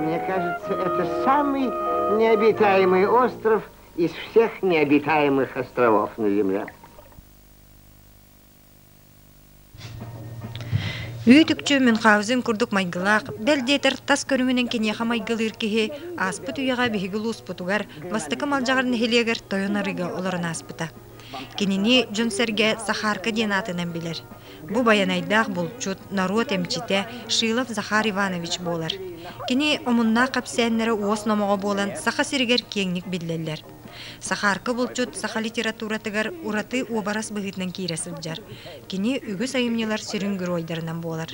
Мне кажется, это самый необитаемый остров из всех необитаемых островов на Земле. Үүтүкчү мен қаузин курдук майгылаах, бэл диэтер тас көрүмүнен киниэха майгылыыр киһи ааспыт үйэҕэ биһиги улууспутугар бастакы малдьаҕар нэһилиэгэр тойон арыыга олорон ааспыта. Кинини дьон-сэргэ Сахарка диэн аатынан билэр. Бу байанайдаах булчут, норуот эмчитэ Шилов Захар Иванович буолар. Кини омуннаах кэпсээннэрэ уос номоҕо буолан Саха сиригэр киэҥник биллэллэр. Сахарка булчут саха литературатыгар ураты уобарас быһыытынан киирэ сылдьар. Кини үгүс айымньылар сүрүн геройдарынан буолар.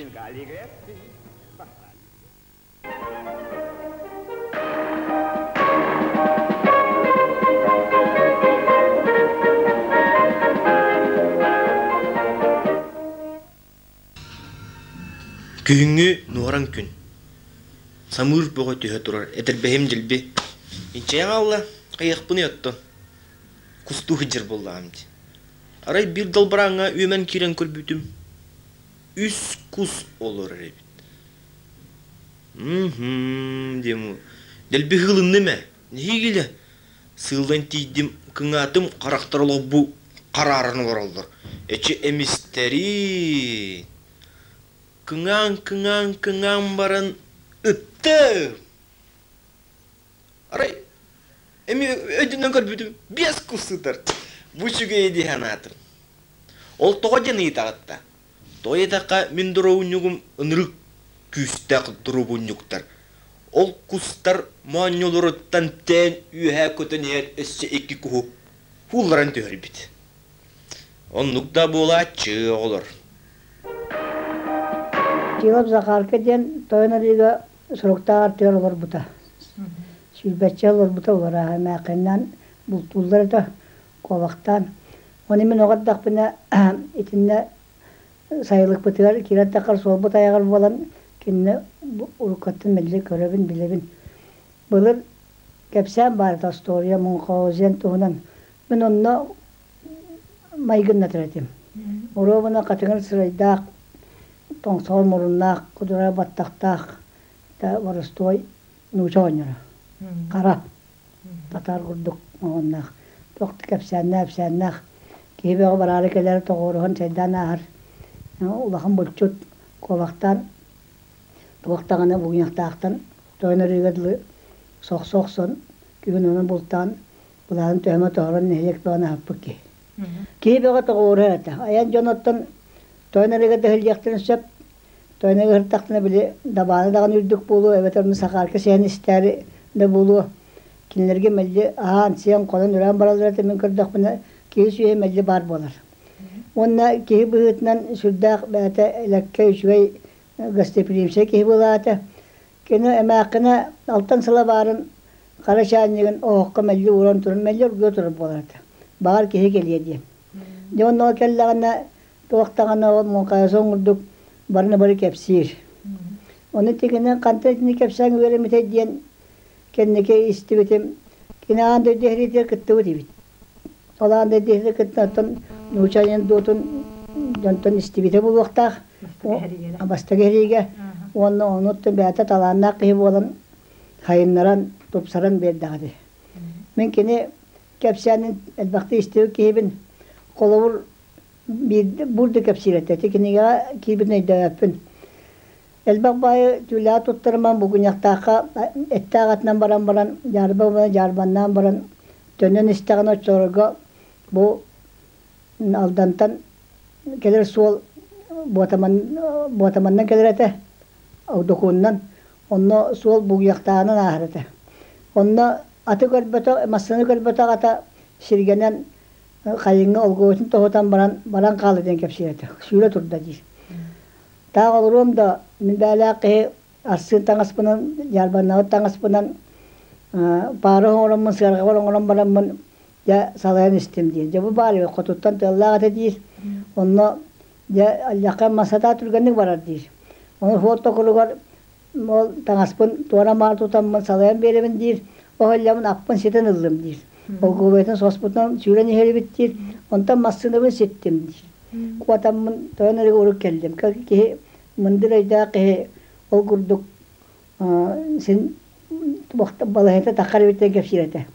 Күһүҥҥү нуоран күн. Самыыр бөҕө түһэ турар этэрбэһим дьилби. Инчэйэн алла, хайахпын ұяттон. Кусту хыджыр боллаам ди. Арай бир далбараңа үөмэн кирен көрбүтүм. Үс кус олор эбит. Угу, дием уу. Дэлби ыгылынным ээ. Нэһиигилэ сыылдан тиийдим, кыҥаатым, харахтар олорбу харааран олороллор. Эчи эмистэрии. Кыҥаан, кыҥаан, кыҥаан баран ыттым. Арай эми өйдөнөн көрбүтүм биэс кыл сытар. Бу үчүгэйи дии санаатым. Ол тоҕо диэн ыйытаҕыт да? Тоойуотаахха мин дуруобунньугум ынырык күүстээх дуруобунньуктар. Ол кустар моонньолоруттан тээн үөһээ көтөн иһэр өссө икки куһу уулларан түһэрбит. Оннук да буолааччы оҕолор. Тиолоп Захарка диэн тойонолига соруктааҕар тыал олорбута. Сүүрбэччэ олорбута уларааһын эмээхининэн бултууллар этэ. куолахтаан. Оны мин оҕо ардахпына итиннэ сайылыкпытыгар киирэр таххар суолбут айаҕар буолан кинини уруккаттан мэлдьи көрөбүн, билэбин. Былыр кэпсээн баарыта остуоруйа Мюнхгаузен туһунан мин онно майгыннатар этим. Оруобуна хатыҥыр сырайдаах, тоҥсоҕор муруннаах, кудурай баттахтаах да боростуой нууча оҕонньоро. Хара. Сатаан курдук оҕуннаах, туох да кэпсээннээх-ипсээннээх киһи бөҕө бараары кэлэр тоҕуоруһан чайдаан ааһар улахан булчут куобахтаан туох даҕаны бугуньахтаахтан тойон ырыыга дылы сохсо охсон күһүн ону бултаан былаанын төһөмө тоһорон нэһилиэк бөҕөнү аһаппыт киһи киһи бөҕө тоҕуоруһар этэ айан дьон оттон тойон ырыыга да иһиллиэхтэрин сөп Тоойноҥ ыһыртахпына били дабааны даҕаны үрдүк буолуо, эбэтэр ону Сахаарка сиһэн истээри да буолуо. Кинилэргэ мэлдьи аһаан-сиэн, хонон-үрээн бараллар этэ мин көрдөхпүнэ киһи-сүөһү мэлдьи баар буолар. Уонна киһи быһыытынан сүрдээх бэйэтэ элэккэй, үчүгэй гостеприимсэй киһи буолаата. Кини эмээххинэ алтан сыла баарын хара чаанньыгын оһоххо мэлдьи ууран туран мэлдьи оргуйа турар буолар этэ. Баҕар киһи кэлиэ диэн Дьэ онно кэллэҕинэ туох даҕаны муҥхайаса оҥордук барыны бары кэпсиир. Ону итигинэн хантан итини кэпсээн үөрэммит диэн кэнники истибитим. Кини аан дойду сэриитигэр кыттыбыт эбит. Ол аан дойду сэриитигэр кыттынаттан нуучча анекдотун дьонтон истибитэ буолуохтаах. Бастакы сэриигэ уонна ону оттон бэйэтэ талааннаах киһи буолан сайыннаран, тупсаран биэрдэҕэ дии. Мин кини кэпсээнин элбэхтик истибит киһибин холобур биирдэ бур да кэпсиир этэ ити кинигэҕэ киһибин өйдөөбөппүн элбэх баайы түүлэҕэ туттарыман бугунньахтаахха эттээх атынан баран баран дьаарба уонна дьаарбаннаан баран төннөн истэҕинэ оччолорго бу алдантан кэлэр суол буотаман буотаманнан кэлэр этэ докуунунан Онно суол бугуйахтаанан ааһарыта. Онно аты көрбөтөх, массыына көрбөтөх ата сиргэнэн хайыҥҥа олговотун тоһутан баран баран хаалыы диэн кэпсиирэ сүүрэ турда дии. Таах олоруом да мин бээлээх киһи арсыын таҥаспынан, дьаарбаннаабыт таҥаспынан паары оҥороммун, сыарҕабар оҥорон бараммын дьэ салайан истим диир. Дьэ бу баар хотуттан тыаллаах этэ диир. Онно Дьэ, Алльака массатаа түргэнник барар диир. Ону суот токуругар ол таҥаспын туора маары тутаммын салайан биэрэбин диир. Ол эллэбин аппын ситэн ыллым диир. Олгуобайтан соспутунан сүүрэн иһэрибит диир. Онтон массыынабын ситтим диир. Куотаммын тоҕон эргэ урут кэллим. Киһи мындыр өйдөөх киһи ол курдук син туохтан балаһата таххар эбиттэн кэпсиир этэ.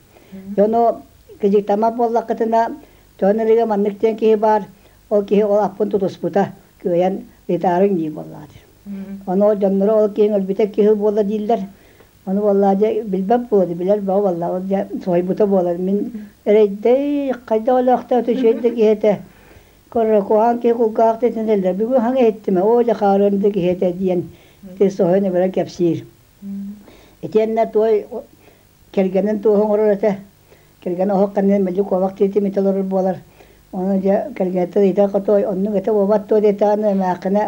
Дьону кыдьыктама буоллаххытына, тоон элигэ маннык диэн киһи баар, ол киһи ол аппын тутуспута, кыайан ыытаарыҥ дии буоллаҕа. Ону дьонноро ол киһи өлбүтэ киһи буолла дииллэр. Ону буоллаа дьэ билбэт буолу билэр бөҕө буолла ол дьэ соһуйбута буолар. Мин эрэйдэй хайда олохто өтүчүөйдэ киһи этэ. Корракуаан кулгаах тэтин эллэрби быһаҥ эттиме оо дьахаарым да киһитэ диэн ты соһон ыбыра кэпсиир. Итиэннэ туой кэргэнин туох оҥорор этэ кэргэн оһох каннын мэлдьи куобах тиитим ите олорор буолар ону дьэ кэргэниттэ ыйда хотой оннук этэ буолбат туо диэтэ аны эмээхкинэ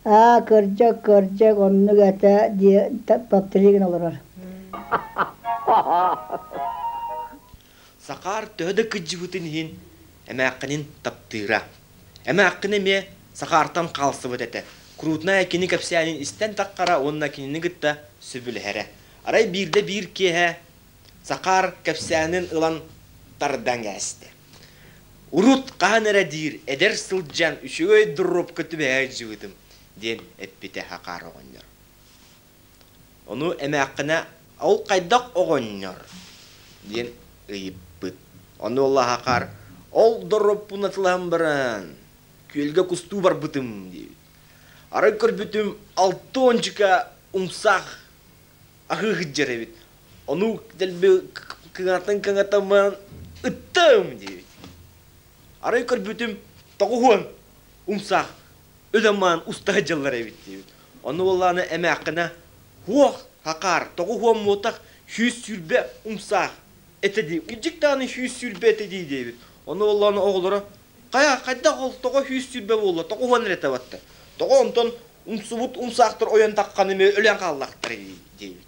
аа кырдьык кырдьык оннук этэ дии таптыли гын олорор Сахаар төһө да кыдьыбытын иһин, эмээххинин таптыыра. Эмээххин эмиэ Сахаартан хаалсыбыт этэ. Крутная кини кэпсээнин истэн таххара уонна кинини кытта сөбүлэһэрэ. Арай биирдэ биир киэһэ Сахаар кэпсээнин ылан тардан кээстэ. Урут хаһан эрэ диир эдэр сылдьан үчүгэй дурупка түбэһэ сылдьыбытым, диэн эппитэ Хакар оҕонньор. Ону эмээххинэ «Ол хайдах оҕонньор?» диэн ыйыппыт. Ону улаахахар «Ол доруоппун атылаһан баран, күөлгэ кустуу барбытым» диэбит. Арай көрбүтүм алта уончука умсаах аһыы сылдьар эбит. Ону дэлби кыҥатан кыҥатаммынан «Ыттым!» диэбит. Арай көрбүтүм тоҕуһуон умсаах өлөммөөн устаһы дьыллар эбит диибит. Ону буоллаана эмээххинэ хуох хакаар тоҕу хуоммуотах сүүс сүүрбэ умсаах эте дии удьик дааны сүүс сүүрбэ эте дии диэбит ону буоллаана оҕолоро хайа хайдах ол тоҕо сүүс сүүрбэ буолла тоҕо уһуан эрэ табатта тоҕо онтон умсубут умсаахтар ойон тахханы эмиэ өлөн хааллахтар дии диэбит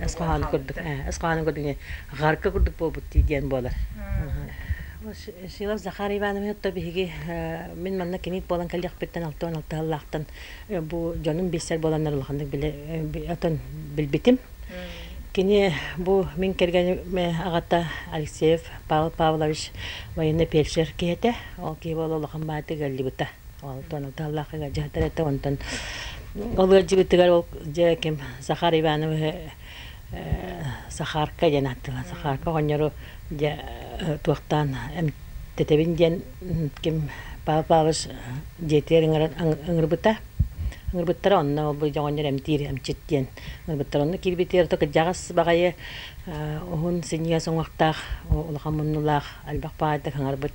Эсхааны көрдүк, Эсхааны көрдүк, Гарка көрдүк буолбут дии диэн буолар. Сила Захар Ивановна то биһиги мин манна кимит буолан кэлиэхпиттэн алтан алтыһаллаахтан бу дьонум билсэр буоланнар улаханнык биле отон билбитим. Кини бу мин кэргэним аҕата Алексеев Павел Павлович военный парикшер киһи этэ. Ол киһи буола улахан баатык өллүбүтэ. Онтон таллахыга дьаһатар этэ, онтон ол ыалдьыбытыгар ол дьэ ким Захар Ивановы Сахарка диэн ааттыыллан Сахарка оҕонньору дьэ туохтаан эмтэтэбин диэн ким Павел Павлович дьиэтигэр ыҥырбыта. Ыҥырбыттара онно бу оҕонньор эмтиир эмчит диэн ыҥырбыттара онно киирбитигэр то кырдьаҕас баҕайы уһун синньигэс уҥуохтаах улахан муннулаах элбэх паайдык ыҥарбыт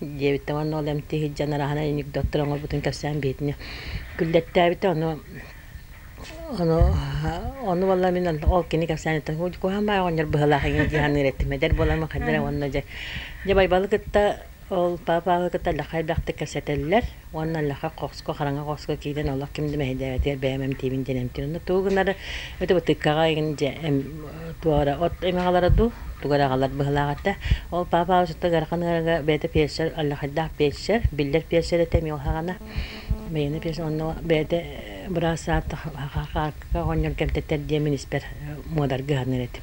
диэбиттэн уонна ол эмти сылдьан араһана анекдоттар оҥорбутун кэпсээн биһитини күллэттээбитэ ону ону ону буолла мин ол кини кэпсээниттэн куһаан баай оҕонньор быһалаах игин дии саныыр этим эдэр буоламмын хайдах уонна дьэ дьэ байбалы кытта ол папаҕы кытта элэххэй бэхтик кэпсэтэллэр Уонна Лаха Хоско, Хараҥа Хоско киирэн олох ким да мэһэйдээбэтигэр бэйэм эмтиибин диэн эмтиир. Онно тугу гыннары өтө бытыккаҕа игин дьэ туора от эмэҕалара дуу, тугараҕалар быһылаах этэ. Ол папа учута Гархан ыарыга бэйэтэ пиэрсер, аллахайдаах пиэрсер, биллэр пиэрсер этэ эмиэ уһаҕана. Бэйэни пиэрсер онно бэйэтэ быраас саатта хахаакка оҕонньор кэмтэтэр диэн мин испэр муодарга ыһанар этим.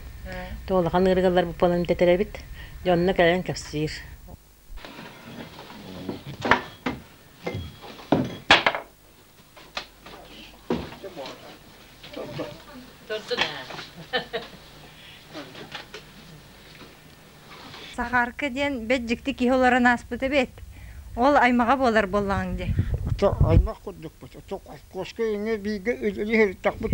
То улахан ыарыгалар бу палан тэтэрэбит. Дьонно кэлэн кэпсиир. Сахарка диэн бэджикти киһи олорон ааспыт эбит. Ол аймаҕа буолар буоллаҕыҥ дии. Ата аймах курдукпут. Ата кошка иҥэ бииргэ үлэлиһэртахпыт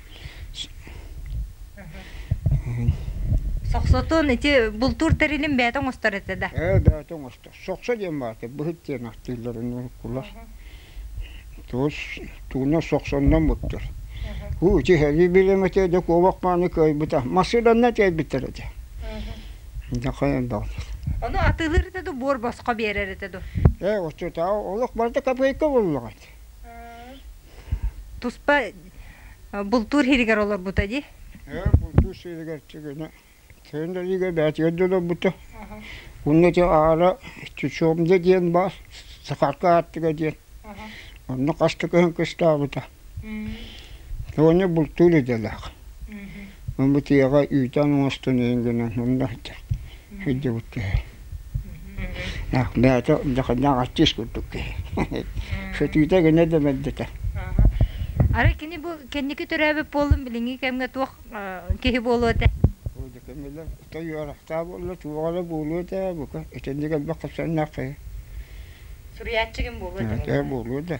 Сохсотон ити бултуур тэрилин бэйэтэ оҥостор этэ да? Ээ, бэйэтэ оҥостор. Сохсо диэн баата быһыт диэн ахтыылларын кулар. Туус тууна сохсоннон буттар. Уу ити хэрии билем этэ да куобах мааны кыайбыта. Массыынанна тиэйбиттэр этэ. Нахайан баҕатыр. Ону атыылыыр этэ ду буор босхо биэрэр этэ ду? Ээ, оту таа олох барда копейка буллаҕыт. Туспа бултуур сиригэр олорбута дии. Ээ, бултуур сиригэр тигинэ. Тигинэ игэ бээтигэр да олорбута. Онно ити аара Чучомда диэн баар Сахарка аартыга диэн. Онно хастык ыһын кыстаабыта. Тооньо бултуур идэлээх. Бытыаҕа үүтээн оҥостон иһин гынан онно сылдьыбыт киһи бэйэтэ дьахаччыыс курдук киһи сөтүүтэ гына да мэлдьитэ арай кини бу кэнники төрөөбүт буоллун билиҥҥи кэмҥэ туох киһи буолуо этэ тойуорахтаах буолла туоҕа да буолуо этэ бука итинник элбэх хапсаннаах киһи суруйааччы ким буолуо этэ буолуо да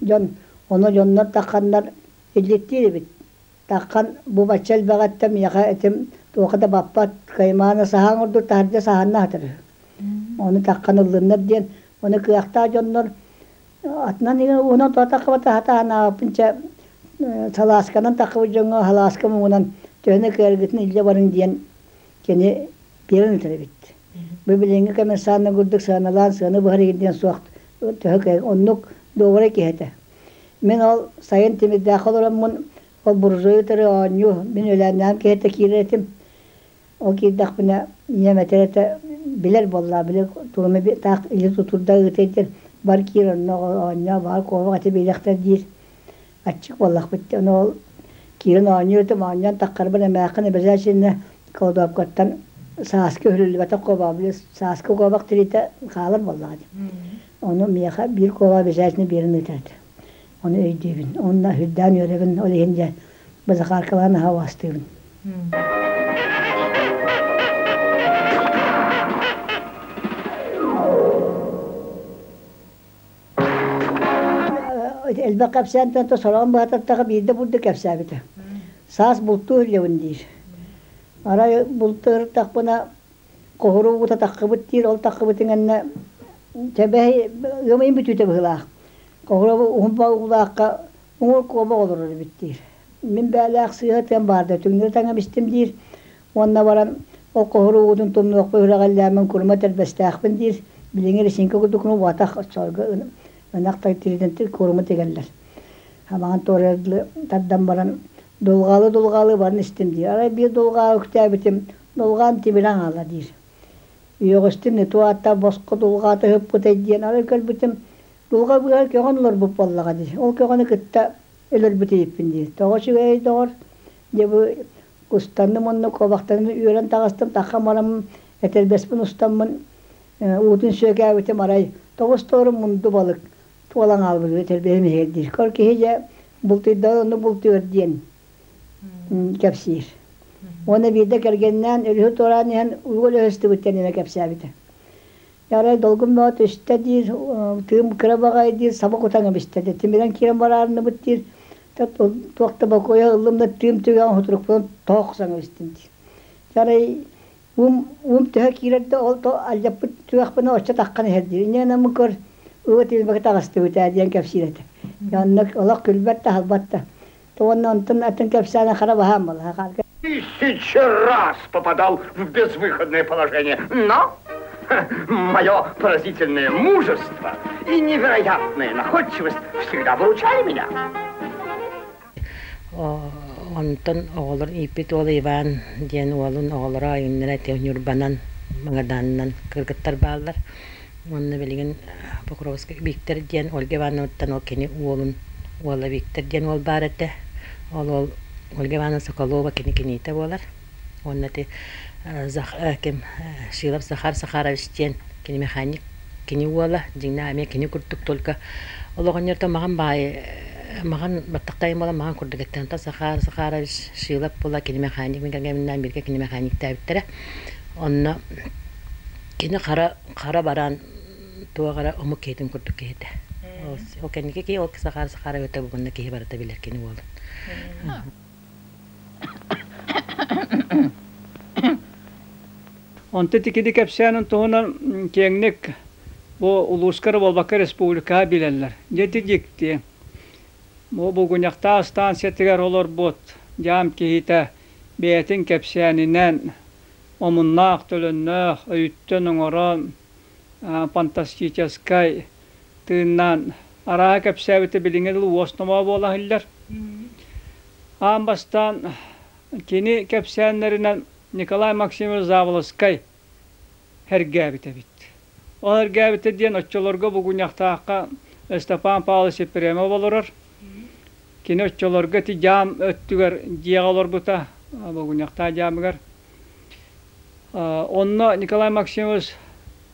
дьон ону дьоннор тахханнар илликтиир эбит таххан бу бачча элбэҕиттэ миэхэ этим туоха да баппат каймаана саһаан ордук таһырдьа саһанна сатыр ону таххан ыллыннар диэн ону кыахтаах дьоннор атынан уна таххабата хатаанааппын чэ салаасканан таххабыт дьоҥҥо халааска муҥунан төһөнө кыаргытын илдьэ барыҥ диэн кини биэрэн ытар эбит. Бу билиҥҥи коммерсанна курдук сыаналаан сыаны быһар диэн суох төһө кэҥ оннук доҕоро киһи этэ. Мин ол сайын тимирдээх олороммун ол буржуй утары оонньуу мин өлөөннөөн киһитэ киирэр этим. Ол киирдэхпинэ ийэм этэр этэ билэр буоллаа били туруми таах или тутурда ыытыйдыр бар киир онно оонньоо баар куобах эти биилэхтэр диир. аччык буоллахпыт диэн ол киирэн оонньуутум оонньоон таххарбын эмээххин эбэлээсиннэ колдообкаттан сааска үрүллүбэтэх куобаабыйы сааска куобах тириитэ хаалар буоллаҕа дии ону миэхэ биир куобаа эбэлээсинэ биэрэн ыытаат ону өйдүүбүн онно үрдээн үөрэбин ол иһин дьэ бу Захаркалаан аһа уостуубун Элбэх кэпсээнтэн то сороҕун быһататтаҕа биирдэ бурдук кэпсээбитэ саас бултуу иһиллэбин диир арай булту ырыттахпына хоһуру угут атаххыбыт диир ол атаххыбыт иҥэннэ тэбэһи ыамыйын бүтүүтэ быһыылаах хоһуру уһунба угулаахха уҥуор куобах олорор эбит диир мин бээлээх сыыһа тыам баарда түҥнэри таҥам истим диир Уонна баран ол хоһур уугутун тумнуохпа үрэҕэллээммин курума тэрбэстээхпин диир, билиҥҥи Рисинка курдукуну убатах сорго ынах тириитин курума тигэллэр. Амаҕын туорайдыы тардан баран дулҕаалы-дулҕаалы баран истим дии. Арай биир дулҕаалы күтээбитим, дулҕаан тибирэн аала диир. Үөҕүстүм, нету аатта босхо дулҕаата ыһыппытай диэн арай көрбүтүм, дулҕа быыһар көҕөн олорбут буоллаҕа дии. Ол көҕөнү кытта өлөрбүт иһиппин дии. Тоҕо үчүгэйэй доҕор, дьэ бу Устанным онно куобахтанным үөрэн таҕыстым, таххан бараммын, этэрбэспин устаммын, уутун сүөкээбитим, арай тоҕустуорум мунду балык туолан хаалбыт этэрбэһим иһигэр диир. Көр киһи дьэ бултуйда ону бултуор диэн кэпсиир. Уонна биирдэ кэргэннээн, өрүһү туораан иһэн уол өһөстүбүттэн эмэ кэпсээбитэ. Арай долгун бөҕө түстэ диир, тыым кыра баҕайы диир, саба кутан кэбистэ диир. Тимирэн киирэн бараарынныбыт диир, туох да бокуойа ыллым да тыым түгэҕин хутурукпунан тоһохсан кэбистим диир. Арай уум уум төһө киирэр да ол алдьаппыт түгэхпинэ оччо таххан иһэр диир. Иннинэ мын көр ылы тилмэкэ таҕыстыбыт ээ диэн кэпсиир этэ. Онно олох күлбэт да, аһылбат да. Уонна онтон атын кэпсээнэ хара баһаам была. Тысяча раз попадал в безвыходное положение, но мое поразительное мужество и невероятная находчивость всегда выручали меня. Онтон оҕолор ииппит уол Иван диэн уолун оҕолоро айыннара Ньурбанан Магаданынан кыргыттар бааллар. Уонна билигин Покровскай Виктор диэн Ольга Ивановнаттан ол кини уолун уола Виктор диэн уол баар этэ. Ол уол Ольга Ивановна Соколова кини киниитэ буолар. Уонна ити ким Шилов Захар Захарович диэн кини механик кини уола, дьиҥнээх эмиэ кини курдук только ол оҕонньортон маҕан баайы маҕан баттахтайым буолан маҕан курдук этэ. Онтон Захар Захарович Шилов була кини механик мин кэргэмминээн бииргэ кини механиктээбиттэрэ. Онно Кини хара хара бараан туох эрэ омук киһитин курдук киһи этэ. Ол кэнники киһи ол сахаара сахаара өтө бубунна киһи барыта билэр кини уолун. Онтон итикиди кэпсээнин туһунан киэҥник бу улууска эрэ буолбакка республикаҕа билэллэр. Дьэти дьикти. Бу Бугуньахтаа ыстаансыйатыгар олорбут дьаам киһитэ бэйэтин кэпсээнинэн омуннаах төлөннөөх өйүттэн оҥорон фантастическай тыыннаан арааһа кэпсээбитэ билиҥҥи дылы уос номоо буола иһиллэр аан бастаан кини кэпсээннэринэн Николай Максимович Заволоскай сэргээбит эбит Ол эргээбитэ диэн оччолорго Бугунньахтаахха Ыстапаан Павлович Епремов олорор. Кини оччолорго ити дьаам өттүгэр дьиэҕэ олорбута, Бугунньахтаах дьаамыгар. Онно Николай Максимович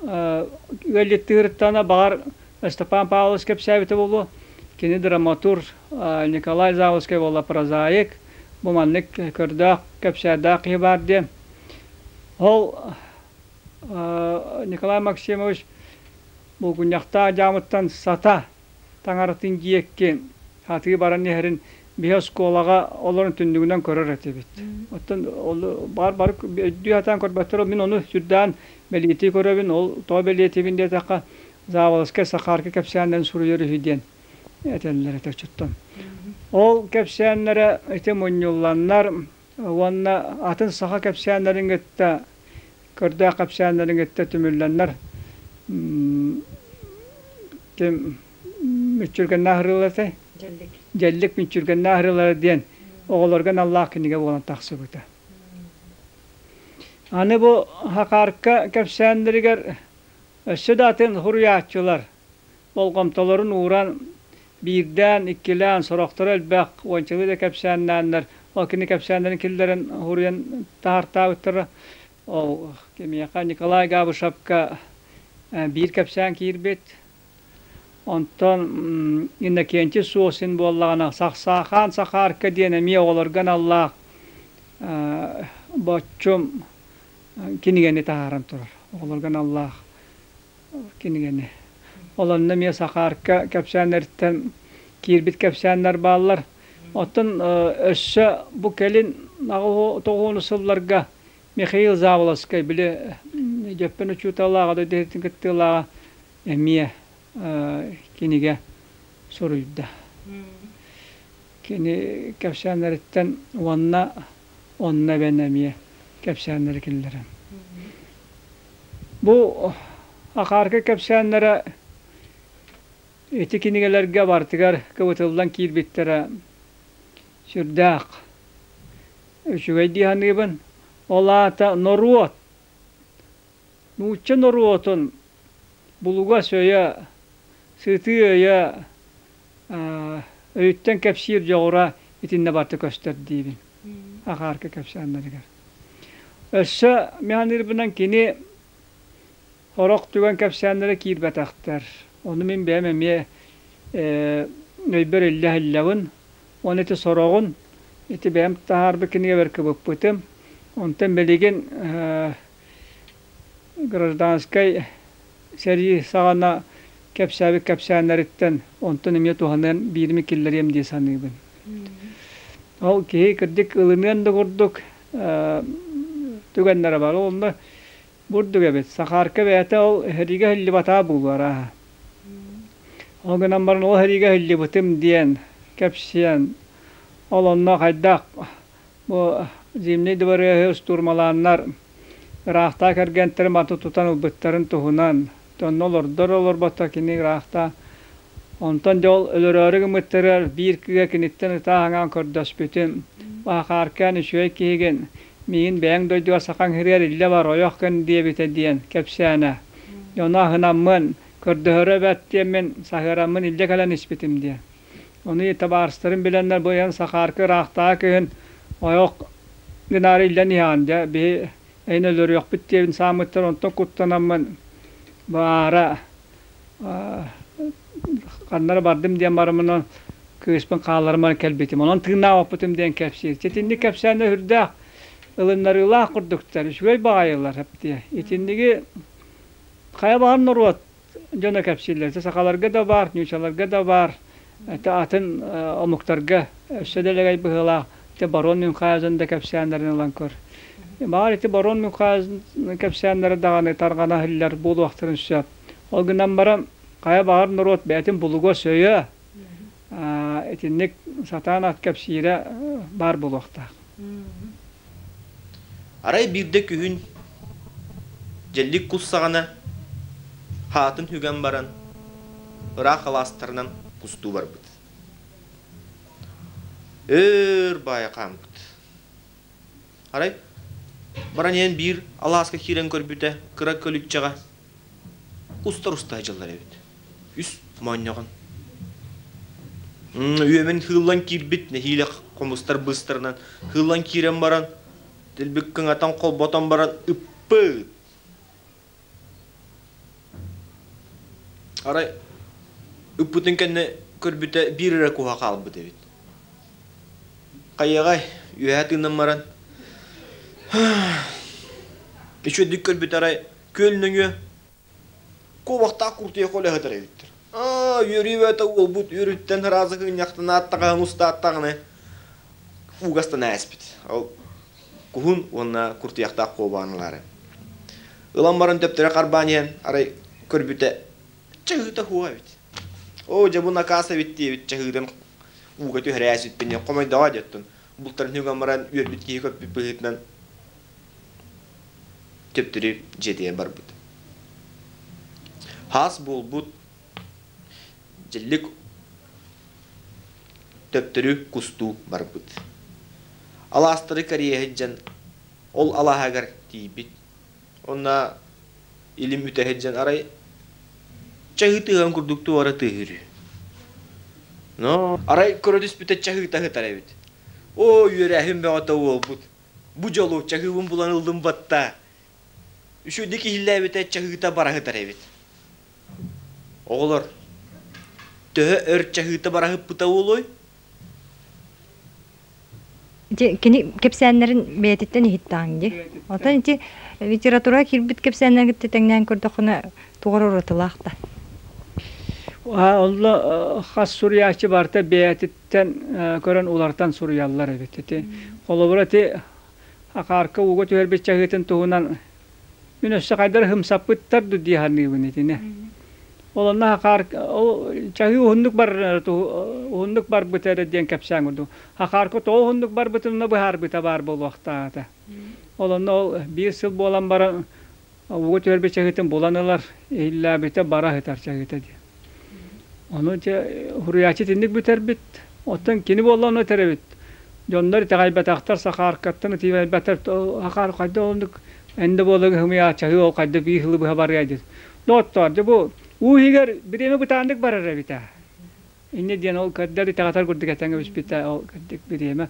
ыалдьыттыыртана баҕар Ыстапаан Павлович кэпсээбитэ буолуо, кини драматург Николай Заволжскай буолла прозаик, бу маннык көрдөөх, кэпсээрдээх киһи баар диэн. Ол Николай Максимович Булгунньахтаах дьаамыттан сата таҥаратын диэкки атыы баран иһэрин биһи оскуолаҕа олорон түннүгүнэн көрөр этибит. Оттон ол баар бары өйдүү сатаан көрбөттөр, мин ону сүрдээн бэлиэтии көрөбүн. Ол тоҕо бэлиэтиибин диэтэххэ, заавалыскай Сахаарка кэпсээннэрин суруйар үһү диэн этэллэр этэ оччоттон. Ол кэпсээннэрэ ити мунньулланнар уонна атын саха кэпсээннэрин кытта көрдөөх кэпсээннэрин кытта түмүллэннэр ким мүччүргэннээх ырыалар этэй дьэллик мүччүргэннээх ырыалара диэн оҕолорго наллаах кинигэ буолан тахсыбыта аны бу хакаарка кэпсээннэригэр өссө да атын хуруйааччылар болҕомтолорун ууран, биирдээн, иккилээн сорохторо элбэх уончалыы да кэпсээннээннэр, ол кини кэпсээннэрин киллэрэн уруйан таһартаабыттара. Ол кимиэхэ Николай Габышевка биир кэпсээн киирбит. Онтон Иннокентий Сосин буоллаҕына Сахаан Сахаарка диэн эмиэ оҕолорго аналлаах боччум кинигэни таһааран турар оҕолорго аналлаах кинигэни. Ол онно эмиэ Сахаарка кэпсээннэриттэн киирбит кэпсээннэр бааллар. Оттон өссө бу кэлин аҕыс тоҕуонус сылларга Михаил Заволоцкай били Дьөппөн учууталлааҕа дойду кыттыылааҕа эмиэ кинигэ суруйда. Кини кэпсээннэриттэн уонна Онно эбэн эмиэ кэпсээннэри киллэрэн. Бу акаарга кэпсээннэрэ ити кинигэлэргэ барытыгар кыбытыллан киирбиттэрэ сүрдээх. Үчүгэй дии саныыбын. Ол аата норуот, нуучча норуотун булугас өйө, сытыы өйө, өйүттэн кэпсиир дьоҕура итиннэ барыта көстөр диибин акаарка кэпсээннэригэр. Өссө механизмынан кини сорох түгэн кэпсээннэрэ киирбэтэхтэр. Ону мин бэйэм эмиэ өйбөр иллэһиллэбин. Уонна ити сороҕун ити бэйэм таһаарбыт кинигэбэр кыбыппытым. Онтон билигин гражданскай сэрии саҕана кэпсээбит кэпсээннэриттэн онтон эмиэ туһаныан биирими киллэриэм дии саныыбын. Ол киһи кырдьык ылыныан да курдук түгэннэрэ баар. Ол онно бурдук эбит. Сахаарка бэйэтэ ол эһириигэ иһиллибатаа буолуо арааһа. Ол гынан баран ол эһириигэ иһиллибитим диэн кэпсиэн ол онно хайдах Бу Зимний дыбарыаһы штурмалааннар ыраахтаа кэргэнтэрин манта тутан ылбыттарын туһунан тонна олордор-олорбото кини ыраахта онтон дьэ ол өлөрөөрү гыммыттарыгар биир кыа киниттэн ытааһаҥаан көрдөспүтүм Баахааркаан үчүгэй киһигин миигин бэйэҥ дойдуга сахаҥ иһигэр иллэ бар ойох кэн диэбитэ диэн кэпсээнэ дьону аһынаммын көрдөһөрө эбээт диэммин саһыараммын илдьэ кэлэн испитим диэн Ону табаарыстарын билэннэр бу ыйан Сахаарка ыраахтааҕы кыһын ойох гынаары иллэн иһэҕин дьэ биһи эйин өлөрүөхпүт диэбин сааммыттан онтон куттанаммын баара ханнара бардым диэн барымынан кыыспын хаалларыман кэлбитим онон тыыннаабаппытым диэн кэпсиир итинник кэпсээннэр үрдээх ылыннарыылаах курдуктар үчүгэй баҕайылар итинниги хайа баҕар норуот дьоно кэпсииллэрэ сахаларга да баар ньуучаларга да баар атын омуктарга өссө дэлэгэй быһыылаах ити барон мюнхаузен да кэпсээннэрин ылан көр баҕар ити барон мюнхаузен кэпсээннэрэ даҕаны тарҕана иһиллэр буолуохтарын сөп ол гынан баран хайа баҕар норуот бэйэтин булугас өйө итинник сатаан ат кэпсиирэ баар буолуохтаах. Арай биирдэ күһүн дьэллик кус саҕана хаатын үгэн баран ыраах алаастарынан кустуу барбыт. Өр баайа хаампыт. Арай баран ийэн биир алааска киирэн көрбүтэ кыра көлүччэҕэ устар-устар дьыллар эбит. Үс моонньоҕон. Үөмэн хыыллан киирбит нэһиилэ хомустар быстарынан хыыллан киирэн баран тилбик кыҥатан холботон баран ыппыт. Арай ыппытын кэннэ көрбүтэ биир эрэ куһа хаалбыт эбит. Хайаҕай үөһэ тыынан баран үчүөдүк көрбүт арай Күөн нөҥүө куобахтаах куртуйахха үлэһитэр эбиттэр. Аа, үөрүүбэтэ уолбут үөрүттэн ыраазы кынньахтанаат таҕаһын устааттаҕына угастан ээспит. Ол куһун уонна куртуйахтаах куобаан ылаары. Ылан баран төптөрө харбаан иһэн, арай көрбүтэ чаһыыта хуо эбит. Оо, дьэ бу накаас эбит диэбит чаһыытын ууга түһэрээсиппин хомойдоҕо диэттин. Бултарын үгэн баран үөрбүт киһи көппүт быһыытынан төптөрү дьиэтигэр барбыт хаас буолбут дьэллик төптөрү кустуу барбыт алаастары кэрийэ сылдьан ол алааһыгар тиийбит онно илим үтэ сылдьан арай чаһыы тыаһын курдук туора тыыһыры но арай көрө түспүтэ чаһыыта сытар эбит оо үөрээһин бөҕөтө уолбут бу дьолу чаһыыбын булан ыллым батта үсүдү киһилээбитэ чаһыыта бара сытар эбит оҕолор төһө өр чаһыыта бара сыппыта буолуой кини кэпсээннэрин бэйэтиттэн иһиттааҥ ди оттон ити литература кирбит кэпсээннэрин кытта тэҥнээн көрдөххүнэ туора уратылаах да онно хас суруйааччы барта бэйэтит Тэн көрөн улартан суруйаллар эбит. Ити холобура ити акаарка ууга түһэрбит чаһыытын туһунан мин өссө хайдары хымсаппыттар ду дии саныыбын итини. Ол онно акаар чаһыы уһуннук бар уһуннук барбыта эрэ диэн кэпсээн курдук. Акаарка тоҕо уһуннук барбытын быһаарбыта баар буолуохтаата. Ол онно ол биир сыл буолан баран угу түөрбэ чаһытын булан ылар иһиллээбитэ бара сытар чаһыта дии ону дьэ уһуруйааччы итинник бүтэрбит оттон кини буолла ону этэрэбит дьоннор итэҕэйбэтэхтэр сахааркаттан ытыйбэттэр сахаар хайда оннук энде буола гыһымыйа чаһыы ол хайда бии сылы быһа барыа дии доҕоттоор дьэ бу уу иһигэр бириэмэ бытааннык барар эбит ээ Инньэ диэн ол көрдөр итэҕэтэр курдук этэн кэбиспитэ ол кырдык бириэмэ.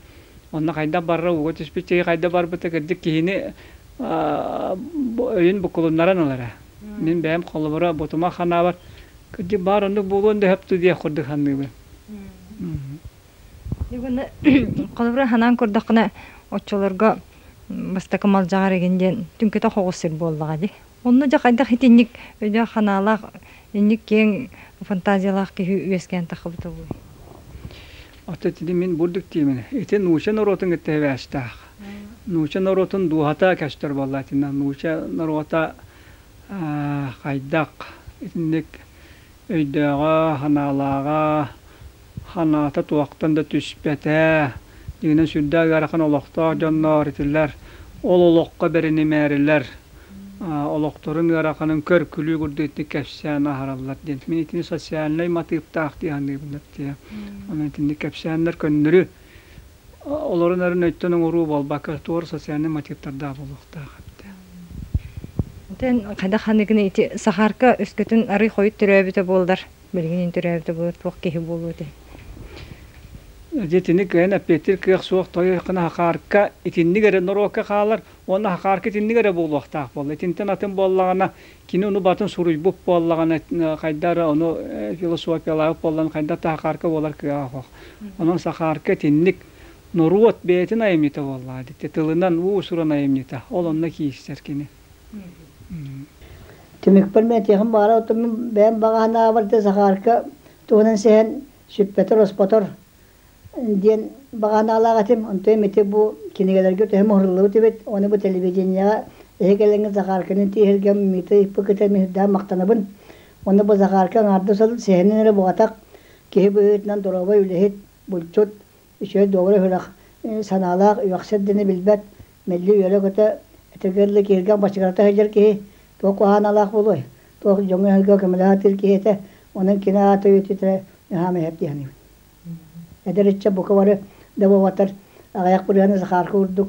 Онно хайдах барара ууга түспүт сири хайда барбыта кырдык киһини өйүн букулуннаран ылара. Мин бэйэм холобура ботума ханаабар кырдьык баар оннук буолуон да сөп диэх курдук саныыбын. Холобура санаан көрдөххүнэ оччолорго бастакы малдьаҕар игин диэн түҥкүтэ хоҕус сир буоллаҕа дии. Онно дьэ хайдах итинник өйдөөх-санаалаах, инник киэҥ фантазиялаах киһи үөскээн таххыбыта буолуй? От итини мин бурдук диэмин. Ити нууча норуотун кытта сибээстээх. Нууча норуотун дууһата көстөр буолла итиннэ. Нууча норуота хайдах итинник өйдөөҕө, санаалааҕа, Санаата туохтан да түспэтэ, дьиҥинэн сүрдээх ыарахан олохтоох дьонноор итилэр, ол олоххо бэринимээрилэр, олохторун ыараханын көр-күлүү курдук итинник кэпсээн аһараллар диэн. Мин итини социальнай матыыптаах дии саныыбын дии. Итинник кэпсээннэр көннөрү олорун эрин өйтөн оҥоруу буолбакка, туора социальнай матыыптардаах буолуохтаах эбитэ. Эн хайдах ханныгыный ити Сахаарка өскөтүн арый хойут төрөөбүтэ буоллар? Билигин төрөөбүтэ буолар туох киһи буолуо этэй? Дьэ итини кыайан эппиэттиир кыах суох тойон Хахаарка итинник эрэ норуокка хаалар уонна Хахаарка итинник эрэ буолуохтаах буолла. Итинтэн атын буоллаҕына кини ону батын суруйбут буоллаҕына хайда эрэ ону философиялаабыт буоллаҕына хайдах да Хахаарка буолар кыаҕа суох. Онон Сахаарка итинник норуот бэйэтин айымньыта буоллаҕа дитэ тылынан уус-уран айымньыта ол онно киирсэр кини. Түмүкпэр мин этиэхим баара оттон мин бэйэм баҕаһынаабар да Захарка туһунан сэһэн сүппэтэр-оспотор диэн баҕанаалаах этим. Онтон ити бу кинигэлэргэ төһө муһуруллубут эбит, ону бу телевиденияҕа эһэ кэлэҥҥэ Захарканы тиэһиргэ Миты Иппыкытын иһирдээн махтанабын. Уонна бу Захарка аҥаардас сыл сэһэнин эрэ буҕатах, киһи быһыытынан доруобай үлэһит, булчут, үчүгэй доҕоро үһүрэх санаалаах үөхсэр дэнэ билбэт мэлли үөрэ-көтө этэргэ киһиргэх бачыгырата сылдьар киһи туох куһааналаах буолуой туох дьоҥҥо өһөргө көмөлөһөр киһи этэ онон кини аата үөтүтэрэ наһаа мэһэр диэханим эдэр ычча бука бары да буолбатар аҕыйах бырыһаны Захарка курдук